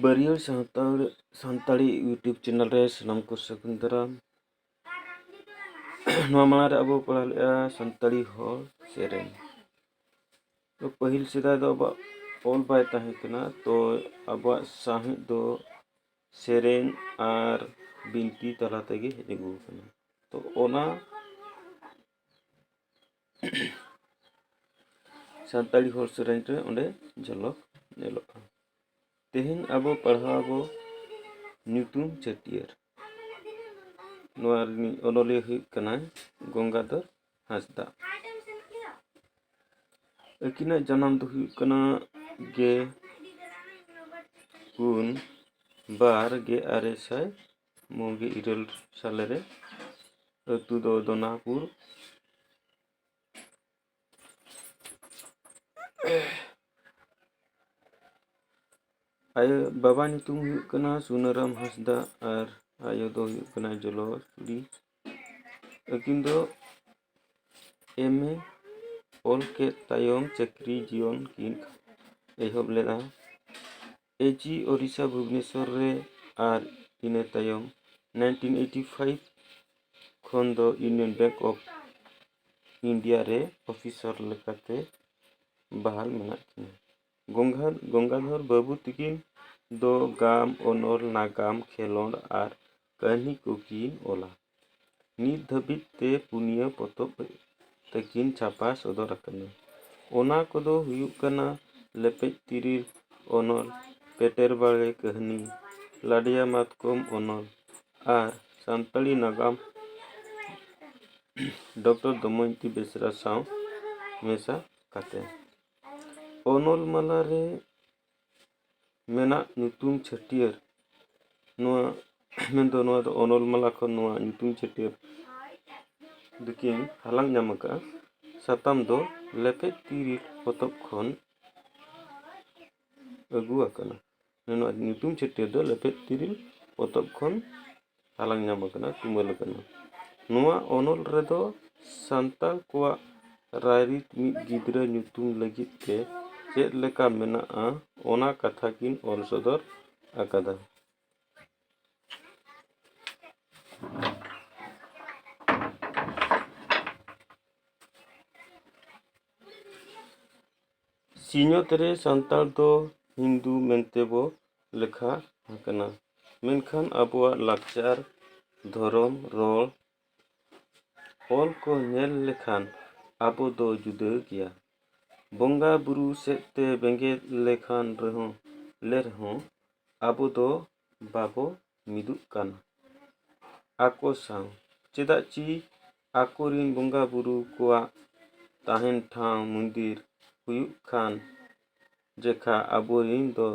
ᱵᱟᱹᱨᱭᱟᱹᱲ Santal Santali YouTube channel ᱨᱮ ᱥᱟᱱᱟᱢ ᱠᱚ ᱥᱟᱹᱜᱩᱱ ᱫᱟᱨᱟᱢ ᱱᱚᱣᱟ ᱢᱟᱲᱟᱝ ᱨᱮ ᱟᱵᱚ ᱯᱟᱲᱦᱟᱣ ᱞᱮᱫᱼᱟ ᱥᱟᱱᱛᱟᱲᱤ ᱦᱚᱲ ᱥᱮᱨᱮᱧ ᱛᱚ ᱯᱟᱹᱦᱤᱞ ᱥᱮᱫᱟᱭ ᱫᱚ ᱟᱵᱚᱣᱟᱜ ᱚᱞ ᱵᱟᱭ ᱛᱟᱦᱮᱸ ᱠᱟᱱᱟ ᱛᱚ ᱟᱵᱚᱣᱟᱜ ᱥᱟᱶᱦᱮᱫ ᱫᱚ ᱥᱮᱨᱮᱧ ᱟᱨ ᱵᱤᱱᱛᱤ ᱛᱟᱞᱟ ᱛᱮᱜᱮ ᱦᱮᱡ ᱟᱹᱜᱩ ᱟᱠᱟᱱᱟ ᱛᱚ ᱚᱱᱟ ᱥᱟᱱᱛᱟᱲᱤ ᱦᱚᱲ ᱥᱮᱨᱮᱧ ᱨᱮ ᱚᱸᱰᱮ ᱡᱷᱚᱞᱚᱠ ᱧᱮᱞᱚᱜᱼᱟ ᱛᱮᱦᱮᱧ ᱟᱵᱚ ᱯᱟᱲᱦᱟᱣ ᱵᱚ ᱧᱩᱛᱩᱢ ᱪᱷᱟᱹᱴᱭᱟᱹᱨ ᱱᱚᱣᱟ ᱨᱤᱱᱤᱡ ᱚᱱᱚᱞᱤᱭᱟᱹ ᱦᱩᱭᱩᱜ ᱠᱟᱱᱟᱭ ᱜᱚᱝᱜᱟᱫᱷᱚᱨ ᱦᱟᱸᱥᱫᱟ ᱟᱹᱠᱤᱱᱟᱜ ᱡᱟᱱᱟᱢ ᱫᱚ ᱦᱩᱭᱩᱜ ᱠᱟᱱᱟ ᱜᱮ ᱯᱩᱱ ᱵᱟᱨ ᱜᱮ ᱟᱨᱮ ᱥᱟᱭ ᱢᱚᱬ ᱜᱮ ᱤᱨᱟᱹᱞ ᱥᱟᱞᱮ ᱨᱮ ᱟᱹᱛᱩ ᱫᱚ ᱫᱚᱱᱟᱯᱩᱨ ᱟᱭᱳ ᱵᱟᱵᱟ ᱧᱩᱛᱩᱢ ᱦᱩᱭᱩᱜ ᱠᱟᱱᱟ ᱥᱩᱱᱟᱹᱨᱟᱢ ᱦᱟᱸᱥᱫᱟ ᱟᱨ ᱟᱭᱳ ᱫᱚ ᱦᱩᱭᱩᱜ ᱠᱟᱱᱟ ᱡᱚᱞᱚᱥᱩᱨᱤ ᱟᱹᱠᱤᱱ ᱫᱚ ᱮᱢ ᱮ ᱚᱞ ᱠᱮᱫ ᱛᱟᱭᱚᱢ ᱪᱟᱹᱠᱨᱤ ᱡᱤᱭᱚᱱ ᱠᱤᱱ ᱮᱦᱚᱵ ᱞᱮᱫᱟ ᱮᱡᱤ ᱳᱰᱤᱥᱟ ᱵᱷᱩᱵᱽᱱᱮᱥᱚᱨ ᱨᱮ ᱟᱨ ᱤᱱᱟᱹ ᱛᱟᱭᱚᱢ ᱱᱟᱭᱤᱱᱴᱤᱱ ᱮᱭᱤᱴᱤ ᱯᱷᱟᱭᱤᱵᱷ ᱠᱷᱚᱱ ᱫᱚ ᱤᱭᱩᱱᱤᱭᱚᱱ ᱵᱮᱝᱠ ᱚᱯᱷ ᱤᱱᱰᱤᱭᱟ ᱨᱮ ᱚᱯᱷᱤᱥᱚᱨ ᱞᱮᱠᱟᱛᱮ ᱵᱟᱦᱟᱞ ᱢᱮᱱᱟᱜ ᱠᱤᱱᱟᱹ ᱜᱚᱝᱜᱟ ᱜᱚᱝᱜᱟᱫᱷᱚᱨ ᱵᱟᱹᱵᱩ ᱛᱟᱹᱠᱤᱱ ᱫᱚ ᱜᱟᱢ ᱚᱱᱚᱞ ᱱᱟᱜᱟᱢ ᱠᱷᱮᱞᱳᱰ ᱟᱨ ᱠᱟᱹᱦᱱᱤ ᱠᱚᱠᱤᱱ ᱚᱞᱟ ᱱᱤᱛ ᱫᱷᱟᱹᱵᱤᱡ ᱛᱮ ᱯᱩᱱᱭᱟᱹ ᱯᱚᱛᱚᱵ ᱛᱟᱹᱠᱤᱱ ᱪᱷᱟᱯᱟ ᱥᱚᱫᱚᱨ ᱟᱠᱟᱱᱟ ᱚᱱᱟ ᱠᱚᱫᱚ ᱦᱩᱭᱩᱜ ᱠᱟᱱᱟ ᱞᱮᱯᱮᱡ ᱛᱤᱨᱤᱞ ᱚᱱᱚᱞ ᱯᱮᱴᱮᱨ ᱵᱟᱲᱮ ᱠᱟᱹᱦᱱᱤ ᱞᱟᱰᱮᱭᱟ ᱢᱟᱛᱠᱚᱢ ᱚᱱᱚᱞ ᱟᱨ ᱥᱟᱱᱛᱟᱲᱤ ᱱᱟᱜᱟᱢ ᱰᱚᱠᱴᱚᱨ ᱫᱚᱢᱚᱭᱚᱱᱛᱤ ᱵᱮᱥᱨᱟ ᱥᱟᱶ ᱢᱮᱥᱟ ᱠᱟᱛᱮᱫ ᱚᱱᱚᱞ ᱢᱟᱞᱟ ᱨᱮ ᱢᱮᱱᱟᱜ ᱧᱩᱛᱩᱢ ᱪᱷᱟᱹᱴᱭᱟᱹᱨ ᱱᱚᱣᱟ ᱢᱮᱱᱫᱚ ᱱᱚᱣᱟ ᱫᱚ ᱚᱱᱚᱞ ᱢᱟᱞᱟ ᱠᱷᱚᱱ ᱱᱚᱣᱟ ᱧᱩᱛᱩᱢ ᱪᱷᱟᱹᱴᱭᱟᱹᱨ ᱫᱚᱠᱤᱱ ᱦᱟᱞᱟᱝ ᱧᱟᱢ ᱟᱠᱟᱫᱼᱟ ᱥᱟᱛᱟᱢ ᱫᱚ ᱞᱮᱯᱮᱡ ᱛᱤᱨᱤᱞ ᱯᱚᱛᱚᱵ ᱠᱷᱚᱱ ᱟᱹᱜᱩ ᱟᱠᱟᱱᱟ ᱱᱚᱣᱟ ᱧᱩᱛᱩᱢ ᱪᱷᱟᱹᱴᱭᱟᱹᱨ ᱫᱚ ᱞᱮᱯᱮᱡ ᱛᱤᱨᱤᱞ ᱯᱚᱛᱚᱵ ᱠᱷᱚᱱ ᱦᱟᱞᱟᱝ ᱧᱟᱢ ᱟᱠᱟᱱᱟ ᱛᱩᱢᱟᱹᱞ ᱟᱠᱟᱱᱟ ᱱᱚᱣᱟ ᱚᱱᱚᱞ ᱨᱮᱫᱚ ᱥᱟᱱᱛᱟᱲ ᱠᱚᱣᱟᱜ ᱨᱟᱭᱨᱤᱛ ᱢᱤᱫ ᱜᱤᱫᱽᱨᱟᱹ ᱧᱩᱛᱩᱢ ᱞᱟᱹᱜᱤᱫ ᱛᱮ ᱪᱮᱫ ᱞᱮᱠᱟ ᱢᱮᱱᱟᱜᱼᱟ ᱚᱱᱟ ᱠᱟᱛᱷᱟ ᱠᱤᱱ ᱚᱞ ᱥᱚᱫᱚᱨ ᱟᱠᱟᱫᱟ ᱥᱤᱧᱚᱛ ᱨᱮ ᱥᱟᱱᱛᱟᱲ ᱫᱚ ᱦᱤᱱᱫᱩ ᱢᱮᱱᱛᱮ ᱵᱚ ᱞᱮᱠᱷᱟ ᱟᱠᱟᱱᱟ ᱢᱮᱱᱠᱷᱟᱱ ᱟᱵᱚᱣᱟᱜ ᱞᱟᱠᱪᱟᱨ ᱫᱷᱚᱨᱚᱢ ᱨᱚᱲ ᱚᱞ ᱠᱚ ᱧᱮᱞ ᱞᱮᱠᱷᱟᱱ ᱟᱵᱚ ᱫᱚ ᱡᱩᱫᱟᱹ ᱜᱮᱭᱟ ᱵᱚᱸᱜᱟ ᱵᱳᱨᱳ ᱥᱮᱫ ᱛᱮ ᱵᱮᱸᱜᱮᱫ ᱞᱮᱠᱷᱟᱱ ᱨᱮᱦᱚᱸ ᱞᱮ ᱨᱮᱦᱚᱸ ᱟᱵᱚ ᱫᱚ ᱵᱟᱵᱚ ᱢᱤᱫᱩᱜ ᱠᱟᱱ ᱟᱠᱚ ᱥᱟᱶ ᱪᱮᱫᱟᱜ ᱪᱤ ᱟᱠᱚ ᱨᱮᱱ ᱵᱚᱸᱜᱟ ᱵᱳᱨᱳ ᱠᱚᱣᱟᱜ ᱛᱟᱦᱮᱱ ᱴᱷᱟᱶ ᱢᱚᱱᱫᱤᱨ ᱦᱩᱭᱩᱜ ᱠᱟᱱ ᱡᱮᱠᱷᱟ ᱟᱵᱚ ᱨᱮᱱ ᱫᱚ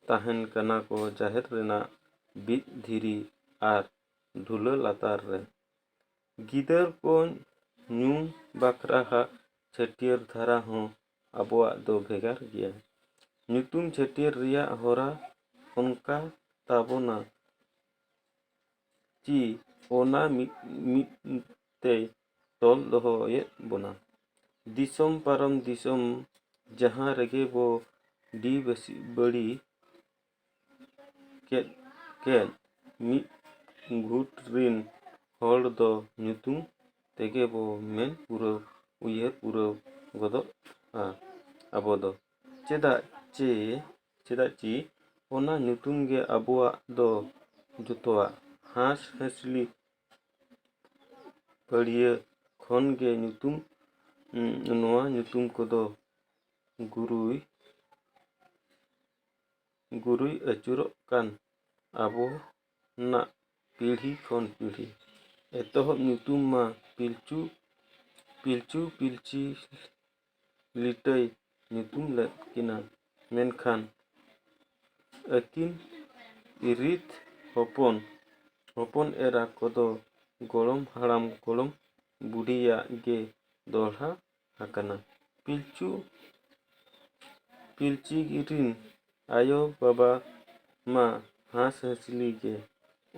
ᱛᱟᱦᱮᱱ ᱠᱟᱱᱟ ᱠᱚ ᱡᱟᱦᱮᱨ ᱨᱮᱱᱟᱜ ᱵᱤᱫ ᱫᱷᱤᱨᱤ ᱟᱨ ᱰᱷᱩᱞᱟᱹ ᱞᱟᱛᱟᱨ ᱨᱮ ᱜᱤᱫᱟᱹᱨ ᱠᱚ ᱧᱩ ᱵᱟᱠᱷᱨᱟ ᱦᱟᱜ ᱪᱷᱟᱹᱴᱭᱟᱹᱨ ᱫᱷᱟᱨᱟ ᱦᱚᱸ ᱟᱵᱚᱣᱟᱜ ᱫᱚ ᱵᱷᱮᱜᱟᱨ ᱜᱮᱭᱟ᱾ ᱧᱩᱛᱩᱢ ᱪᱷᱟᱹᱴᱭᱟᱹᱨ ᱨᱮᱭᱟᱜ ᱦᱚᱨᱟ ᱚᱱᱠᱟ ᱛᱟᱵᱚᱱᱟ ᱪᱤ ᱚᱱᱟ ᱢᱤᱫ ᱛᱮᱭ ᱛᱚᱞ ᱫᱚᱦᱚᱭᱮᱫ ᱵᱚᱱᱟ᱾ ᱫᱤᱥᱚᱢ ᱯᱟᱨᱚᱢ ᱫᱤᱥᱚᱢ ᱡᱟᱦᱟᱸ ᱨᱮᱜᱮ ᱵᱚ ᱰᱤ ᱵᱟᱹᱲᱤ ᱠᱮᱫ ᱠᱮᱫ ᱢᱤᱫ ᱜᱩᱴ ᱨᱤᱱ ᱦᱚᱲ ᱫᱚ ᱧᱩᱛᱩᱢ ᱛᱮᱜᱮ ᱵᱚ ᱢᱮᱱ ᱯᱩᱨᱟᱹᱣ ᱩᱭᱦᱟᱹᱨ ᱯᱩᱨᱟᱹᱣ ᱜᱚᱫᱚᱜᱼᱟ ᱟᱵᱚ ᱫᱚ ᱪᱮᱫᱟᱜ ᱪᱮ ᱪᱮᱫᱟᱜ ᱪᱮ ᱚᱱᱟ ᱧᱩᱛᱩᱢ ᱜᱮ ᱟᱵᱚᱣᱟᱜ ᱫᱚ ᱡᱚᱛᱚᱣᱟᱜ ᱦᱟᱸᱥᱼᱦᱟᱸᱥᱞᱤ ᱯᱟᱹᱲᱭᱟᱹ ᱠᱷᱚᱱ ᱜᱮ ᱧᱩᱛᱩᱢ ᱱᱚᱣᱟ ᱧᱩᱛᱩᱢ ᱠᱚᱫᱚ ᱜᱩᱨᱩᱭ ᱜᱩᱨᱩᱭ ᱟᱹᱪᱩᱨᱚᱜ ᱠᱟᱱ ᱟᱵᱚᱱᱟᱜ ᱯᱤᱲᱦᱤ ᱠᱷᱚᱱ ᱯᱤᱲᱦᱤ ᱮᱛᱚᱦᱚᱵ ᱧᱩᱛᱩᱢ ᱢᱟ ᱯᱤᱞᱪᱩ ᱯᱤᱞᱪᱩ ᱯᱤᱞᱪᱤ ᱞᱤᱴᱟᱹᱭ ᱧᱩᱛᱩᱢ ᱞᱮᱫ ᱠᱤᱱᱟ ᱢᱮᱱᱠᱷᱟᱱ ᱟᱹᱠᱤᱱ ᱨᱤᱛ ᱦᱚᱯᱚᱱ ᱦᱚᱯᱚᱱ ᱮᱨᱟ ᱠᱚᱫᱚ ᱜᱚᱲᱚᱢ ᱦᱟᱲᱟᱢ ᱜᱚᱲᱚᱢ ᱵᱩᱰᱷᱤᱭᱟᱜ ᱜᱮ ᱫᱚᱦᱲᱟ ᱟᱠᱟᱱᱟ ᱯᱤᱞᱪᱩ ᱯᱤᱞᱪᱤ ᱨᱤᱱ ᱟᱭᱳ ᱵᱟᱵᱟ ᱢᱟ ᱦᱟᱸᱥ ᱦᱟᱹᱥᱞᱤ ᱜᱮ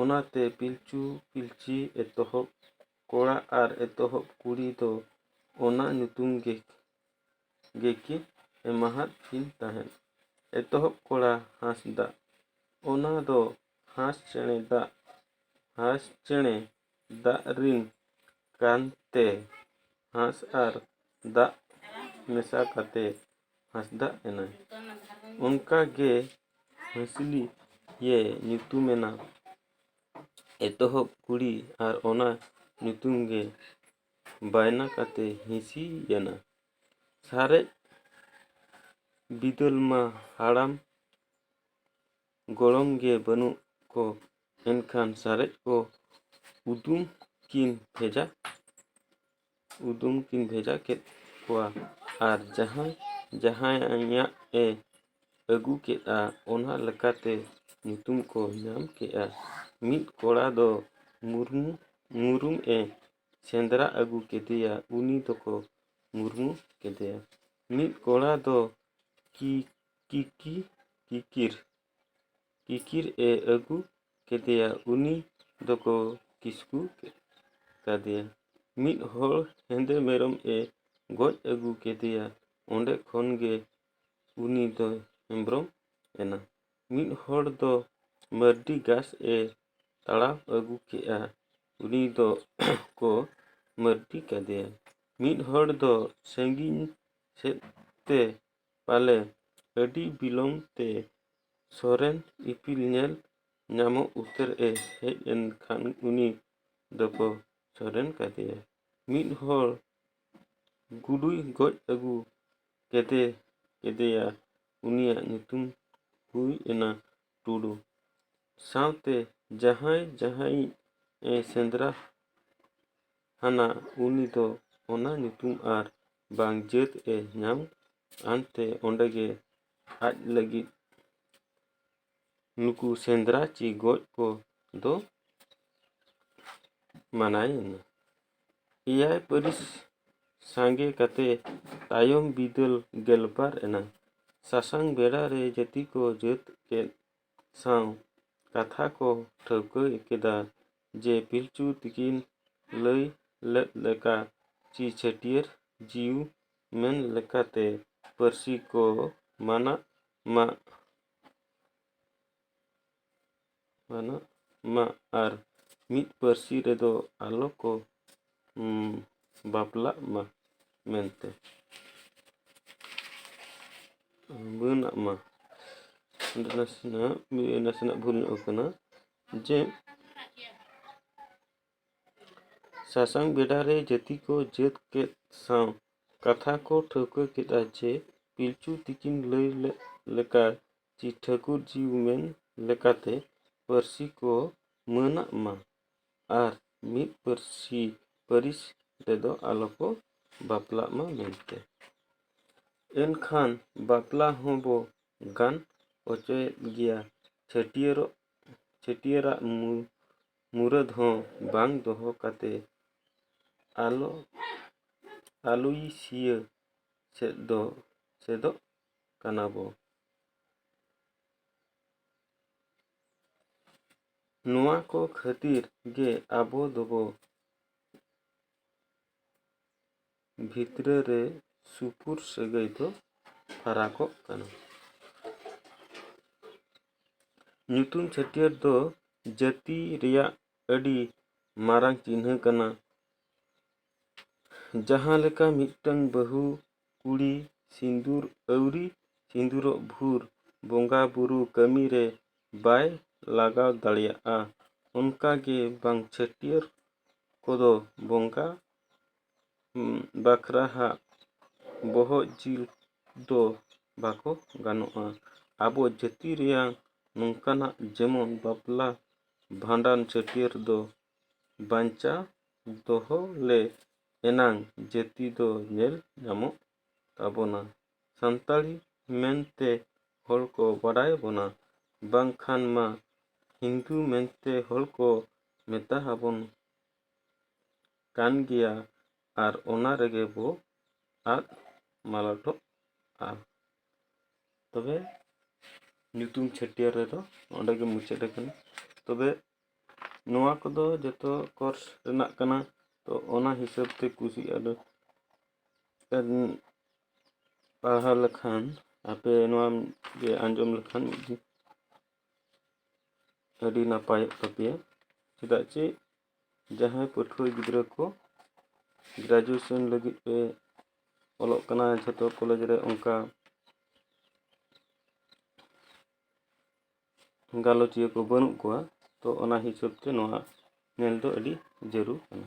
ᱚᱱᱟᱛᱮ ᱯᱤᱞᱪᱩ ᱯᱤᱞᱪᱤ ᱮᱛᱚᱦᱚᱵ ᱠᱚᱲᱟ ᱟᱨ ᱮᱛᱚᱦᱚᱵ ᱠᱩᱲᱤ ᱫᱚ ᱚᱱᱟ ᱧᱩᱛᱩᱢ ᱜᱮ ᱜᱮᱠᱤᱱ ᱮᱢᱟᱦᱟᱫ ᱠᱤᱱ ᱛᱟᱦᱮᱸᱫ ᱮᱛᱚᱦᱚᱵ ᱠᱚᱲᱟ ᱦᱟᱸᱥᱫᱟ ᱚᱱᱟ ᱫᱚ ᱦᱟᱸᱥ ᱪᱮᱬᱮ ᱫᱟᱜ ᱦᱟᱸᱥ ᱪᱮᱬᱮ ᱫᱟᱜ ᱨᱤᱱ ᱠᱟᱱ ᱛᱮ ᱦᱟᱸᱥ ᱟᱨ ᱫᱟᱜ ᱢᱮᱥᱟ ᱠᱟᱛᱮ ᱦᱟᱸᱥᱫᱟ ᱮᱱᱟᱭ ᱚᱱᱠᱟ ᱜᱮ ᱦᱟᱸᱥᱞᱤ ᱭᱮ ᱧᱩᱛᱩᱢ ᱮᱱᱟ ᱮᱛᱚᱦᱚᱵ ᱠᱩᱲᱤ ᱟᱨ ᱚᱱᱟ ᱧᱩᱛᱩᱢ ᱜᱮ ᱵᱟᱭᱱᱟ ᱠᱟᱛᱮ ᱦᱤᱸᱥᱤ ᱭᱮᱱᱟ ᱥᱟᱨᱮᱡ ᱵᱤᱫᱟᱹᱞ ᱢᱟ ᱦᱟᱲᱟᱢ ᱜᱚᱲᱚᱢ ᱜᱮ ᱵᱟᱹᱱᱩᱜ ᱠᱚ ᱮᱱᱠᱷᱟᱱ ᱥᱟᱨᱮᱡ ᱠᱚ ᱩᱫᱩᱢ ᱠᱤᱱ ᱵᱷᱮᱡᱟ ᱩᱫᱩᱢ ᱠᱤᱱ ᱵᱷᱮᱡᱟ ᱠᱮᱫ ᱠᱚᱣᱟ ᱟᱨ ᱡᱟᱦᱟᱸᱭ ᱡᱟᱦᱟᱸᱭᱟᱜ ᱮ ᱟᱹᱜᱩ ᱠᱮᱫᱼᱟ ᱚᱱᱟ ᱞᱮᱠᱟᱛᱮ ᱧᱩᱛᱩᱢ ᱠᱚ ᱧᱟᱢ ᱠᱮᱫᱼᱟ ᱢᱤᱫ ᱠᱚᱲᱟ ᱫᱚ ᱢᱩᱨᱢᱩ ᱢᱩᱨᱩᱢ ᱮ ᱥᱮᱸᱫᱽᱨᱟ ᱟᱹᱜᱩ ᱠᱮᱫᱮᱭᱟ ᱩᱱᱤ ᱫᱚᱠᱚ ᱢᱩᱨᱢᱩ ᱠᱮᱫᱮᱭᱟ ᱢᱤᱫ ᱠᱚᱲᱟ ᱫᱚ ᱠᱤ ᱠᱤᱠᱤ ᱠᱤᱠᱤᱨ ᱠᱤᱠᱤᱨ ᱮ ᱟᱹᱜᱩ ᱠᱮᱫᱮᱭᱟ ᱩᱱᱤ ᱫᱚᱠᱚ ᱠᱤᱥᱠᱩ ᱠᱟᱫᱮᱭᱟ ᱢᱤᱫ ᱦᱚᱲ ᱦᱮᱸᱫᱮ ᱢᱮᱨᱚᱢ ᱮ ᱜᱚᱡ ᱟᱹᱜᱩ ᱠᱮᱫᱮᱭᱟ ᱚᱸᱰᱮ ᱠᱷᱚᱱ ᱜᱮ ᱩᱱᱤ ᱫᱚ ᱦᱮᱢᱵᱨᱚᱢ ᱮᱱᱟ ᱢᱤᱫ ᱦᱚᱲ ᱫᱚ ᱢᱟᱹᱨᱰᱤ ᱜᱷᱟᱥ ᱮ ᱛᱟᱲᱟᱣ ᱟᱹᱜᱩ ᱠᱮᱫᱼᱟ ᱩᱱᱤ ᱫᱚ ᱠᱚ ᱢᱟᱹᱨᱰᱤ ᱠᱟᱫᱮᱭᱟ ᱢᱤᱫ ᱦᱚᱲ ᱫᱚ ᱥᱟᱺᱜᱤᱧ ᱥᱮᱫ ᱛᱮ ᱯᱟᱞᱮ ᱟᱹᱰᱤ ᱵᱤᱞᱚᱢ ᱛᱮ ᱥᱚᱨᱮᱱ ᱤᱯᱤᱞ ᱧᱮᱞ ᱧᱟᱢᱚᱜ ᱩᱛᱟᱹᱨ ᱮ ᱦᱮᱡ ᱮᱱ ᱠᱷᱟᱱ ᱩᱱᱤ ᱫᱚᱠᱚ ᱥᱚᱨᱮᱱ ᱠᱟᱫᱮᱭᱟ ᱢᱤᱫ ᱦᱚᱲ ᱜᱩᱰᱩᱭ ᱜᱚᱡ ᱟᱹᱜᱩ ᱠᱮᱫᱮ ᱠᱮᱫᱮᱭᱟ ᱩᱱᱤᱭᱟᱜ ᱧᱩᱛᱩᱢ ᱦᱩᱭ ᱮᱱᱟ ᱴᱩᱰᱩ ᱥᱟᱶᱛᱮ ᱡᱟᱦᱟᱸᱭ ᱡᱟᱦᱟᱸᱭᱤᱡ ᱮ ᱥᱮᱸᱫᱽᱨᱟ ᱟᱱᱟ ᱩᱱᱤ ᱫᱚ ᱚᱱᱟ ᱧᱩᱛᱩᱢ ᱟᱨ ᱵᱟᱝ ᱡᱟᱹᱛ ᱮ ᱧᱟᱢ ᱟᱱ ᱛᱮ ᱚᱸᱰᱮ ᱜᱮ ᱟᱡ ᱞᱟᱹᱜᱤᱫ ᱱᱩᱠᱩ ᱥᱮᱸᱫᱽᱨᱟ ᱪᱮ ᱜᱚᱡ ᱠᱚ ᱫᱚ ᱢᱟᱱᱟᱭ ᱮᱱᱟ ᱮᱭᱟᱭ ᱯᱟᱹᱨᱤᱥ ᱥᱟᱸᱜᱮ ᱠᱟᱛᱮ ᱛᱟᱭᱚᱢ ᱵᱤᱫᱟᱹᱞ ᱜᱮᱞᱵᱟᱨ ᱮᱱᱟ ᱥᱟᱥᱟᱝ ᱵᱮᱲᱟ ᱨᱮ ᱡᱟᱹᱛᱤ ᱠᱚ ᱡᱟᱹᱛ ᱠᱮᱫ ᱥᱟᱶ ᱠᱟᱛᱷᱟ ᱠᱚ ᱴᱷᱟᱹᱣᱠᱟᱹ ᱠᱮᱫᱟ ᱡᱮ ᱯᱤᱞᱪᱩ ᱛᱤᱠᱤᱱ ᱞᱟᱹᱭ ᱞᱮᱫ ᱞᱮᱠᱟ ᱪᱤ ᱪᱷᱟᱹᱴᱭᱟᱹᱨ ᱡᱤᱣᱤ ᱢᱮᱱ ᱞᱮᱠᱟᱛᱮ ᱯᱟᱹᱨᱥᱤ ᱠᱚ ᱢᱟᱱᱟᱜ ᱢᱟ ᱢᱟᱱᱟᱜ ᱢᱟ ᱟᱨ ᱢᱤᱫ ᱯᱟᱹᱨᱥᱤ ᱨᱮᱫᱚ ᱟᱞᱚ ᱠᱚ ᱵᱟᱯᱞᱟᱜ ᱢᱟ ᱢᱮᱱᱛᱮ ᱢᱟᱹᱱᱟᱜ ᱢᱟ ᱱᱟᱥᱮᱱᱟᱜ ᱱᱟᱥᱮᱱᱟᱜ ᱵᱷᱩᱞ ᱧᱚᱜ ᱟᱠᱟᱱᱟ ᱡᱮ ᱥᱟᱥᱟᱝ ᱵᱮᱰᱟ ᱨᱮ ᱡᱟᱹᱛᱤ ᱠᱚ ᱡᱟᱹᱛ ᱠᱮᱫ ᱥᱟᱶ ᱠᱟᱛᱷᱟ ᱠᱚ ᱴᱷᱟᱹᱣᱠᱟᱹ ᱠᱮᱫᱼᱟ ᱡᱮ ᱯᱤᱞᱪᱩ ᱛᱤᱠᱤᱱ ᱞᱟᱹᱭ ᱞᱮᱫ ᱞᱮᱠᱟ ᱡᱮ ᱴᱷᱟᱹᱠᱩᱨ ᱡᱤ ᱢᱮᱱ ᱞᱮᱠᱟᱛᱮ ᱯᱟᱹᱨᱥᱤ ᱠᱚ ᱢᱟᱹᱱᱟᱜ ᱢᱟ ᱟᱨ ᱢᱤᱫ ᱯᱟᱹᱨᱥᱤ ᱯᱟᱹᱨᱤᱥ ᱨᱮᱫᱚ ᱟᱞᱚ ᱠᱚ ᱵᱟᱯᱞᱟᱜ ᱢᱟ ᱢᱮᱱᱛᱮ ᱮᱱᱠᱷᱟᱱ ᱵᱟᱯᱞᱟ ᱦᱚᱸ ᱵᱚ ᱜᱟᱱ ᱚᱪᱚᱭᱮᱫ ᱜᱮᱭᱟ ᱪᱷᱟᱹᱴᱭᱟᱹᱨᱚᱜ ᱪᱷᱟᱹᱴᱭᱟᱹᱨᱟᱜ ᱢᱩᱨᱟᱹᱫ ᱦᱚᱸ ᱵᱟᱝ ᱫᱚᱦᱚ ᱠᱟᱛᱮ ᱟᱞᱚ ᱟᱞᱚᱭᱥᱤᱭᱟᱹ ᱥᱮᱫ ᱫᱚ ᱥᱮᱫᱚᱜ ᱠᱟᱱᱟ ᱵᱚ ᱱᱚᱣᱟ ᱠᱚ ᱠᱷᱟᱹᱛᱤᱨ ᱜᱮ ᱟᱵᱚ ᱫᱚᱵᱚ ᱵᱷᱤᱛᱨᱟᱹ ᱨᱮ ᱥᱩᱯᱩᱨ ᱥᱟᱹᱜᱟᱹᱭ ᱫᱚ ᱯᱷᱟᱨᱟᱠᱚᱜ ᱠᱟᱱᱟ ᱧᱩᱛᱩᱢ ᱪᱷᱟᱹᱴᱭᱟᱹᱨ ᱫᱚ ᱡᱟᱹᱛᱤ ᱨᱮᱭᱟᱜ ᱟᱹᱰᱤ ᱢᱟᱨᱟᱝ ᱪᱤᱱᱦᱟᱹ ᱠᱟᱱᱟ ᱡᱟᱦᱟᱸ ᱞᱮᱠᱟ ᱢᱤᱫᱴᱟᱹᱝ ᱵᱟᱹᱦᱩ ᱠᱩᱲᱤ ᱥᱤᱸᱫᱩᱨ ᱟᱹᱣᱨᱤ ᱥᱤᱸᱫᱩᱨᱚᱜ ᱵᱷᱩᱨ ᱵᱚᱸᱜᱟ ᱵᱩᱨᱩ ᱠᱟᱹᱢᱤ ᱨᱮ ᱵᱟᱭ ᱞᱟᱜᱟᱣ ᱫᱟᱲᱮᱭᱟᱜᱼᱟ ᱚᱱᱠᱟ ᱜᱮ ᱵᱟᱝ ᱪᱷᱟᱹᱴᱭᱟᱹᱨ ᱠᱚᱫᱚ ᱵᱚᱸᱜᱟ ᱵᱟᱠᱷᱨᱟ ᱦᱟᱜ ᱵᱚᱦᱚᱜ ᱡᱤᱞ ᱫᱚ ᱵᱟᱠᱚ ᱜᱟᱱᱚᱜᱼᱟ ᱟᱵᱚ ᱡᱟᱹᱛᱤ ᱨᱮᱭᱟᱜ ᱱᱚᱝᱠᱟᱱᱟᱜ ᱡᱮᱢᱚᱱ ᱵᱟᱯᱞᱟ ᱵᱷᱟᱸᱰᱟᱱ ᱪᱷᱟᱹᱴᱭᱟᱹᱨ ᱫᱚ ᱵᱟᱧᱪᱟᱣ ᱫᱚᱦᱚ ᱞᱮ ᱮᱱᱟᱝ ᱡᱟᱹᱛᱤ ᱫᱚ ᱧᱮᱞ ᱧᱟᱢᱚᱜ ᱛᱟᱵᱚᱱᱟ ᱥᱟᱱᱛᱟᱲᱤ ᱢᱮᱱᱛᱮ ᱦᱚᱲ ᱠᱚ ᱵᱟᱰᱟᱭ ᱵᱚᱱᱟ ᱵᱟᱝᱠᱷᱟᱱ ᱢᱟ ᱦᱤᱱᱫᱩ ᱢᱮᱱᱛᱮ ᱦᱚᱲ ᱠᱚ ᱢᱮᱛᱟ ᱟᱵᱚᱱ ᱠᱟᱱ ᱜᱮᱭᱟ ᱟᱨ ᱚᱱᱟ ᱨᱮᱜᱮ ᱵᱚ ᱟᱫ ᱢᱟᱞᱚᱴᱚᱜᱼᱟ ᱛᱚᱵᱮ ᱧᱩᱛᱩᱢ ᱪᱷᱟᱹᱴᱭᱟᱹᱨ ᱨᱮᱫᱚ ᱚᱸᱰᱮ ᱜᱮ ᱢᱩᱪᱟᱹᱫ ᱟᱠᱟᱱᱟ ᱛᱚᱵᱮ ᱱᱚᱣᱟ ᱠᱚᱫᱚ ᱡᱚᱛᱚ ᱠᱳᱨᱥ ᱨᱮᱱᱟᱜ ᱠᱟᱱᱟ ᱛᱚ ᱚᱱᱟ ᱦᱤᱥᱟᱹᱵ ᱛᱮ ᱠᱩᱥᱤ ᱟᱫᱚ ᱯᱟᱲᱦᱟᱣ ᱞᱮᱠᱷᱟᱱ ᱟᱯᱮ ᱱᱚᱣᱟ ᱜᱮ ᱟᱸᱡᱚᱢ ᱞᱮᱠᱷᱟᱱ ᱟᱹᱰᱤ ᱱᱟᱯᱟᱭᱚᱜ ᱛᱟᱯᱮᱭᱟ ᱪᱮᱫᱟᱜ ᱪᱮ ᱡᱟᱦᱟᱸᱭ ᱯᱟᱹᱴᱷᱩᱣᱟᱹ ᱜᱤᱫᱽᱨᱟᱹ ᱠᱚ ᱜᱨᱮᱡᱩᱭᱮᱥᱚᱱ ᱞᱟᱹᱜᱤᱫ ᱯᱮ ᱚᱞᱚᱜ ᱠᱟᱱᱟ ᱡᱷᱚᱛᱚ ᱠᱚᱞᱮᱡᱽ ᱨᱮ ᱚᱱᱠᱟ ᱜᱟᱞᱚᱪᱤᱭᱟᱹ ᱠᱚ ᱵᱟᱹᱱᱩᱜ ᱠᱚᱣᱟ ᱛᱚ ᱚᱱᱟ ᱦᱤᱥᱟᱹᱵ ᱛᱮ ᱱᱚᱣᱟ ᱧᱮᱞ ᱫᱚ ᱟᱹᱰᱤ ᱡᱟᱹᱨᱩᱲ ᱠᱟᱱᱟ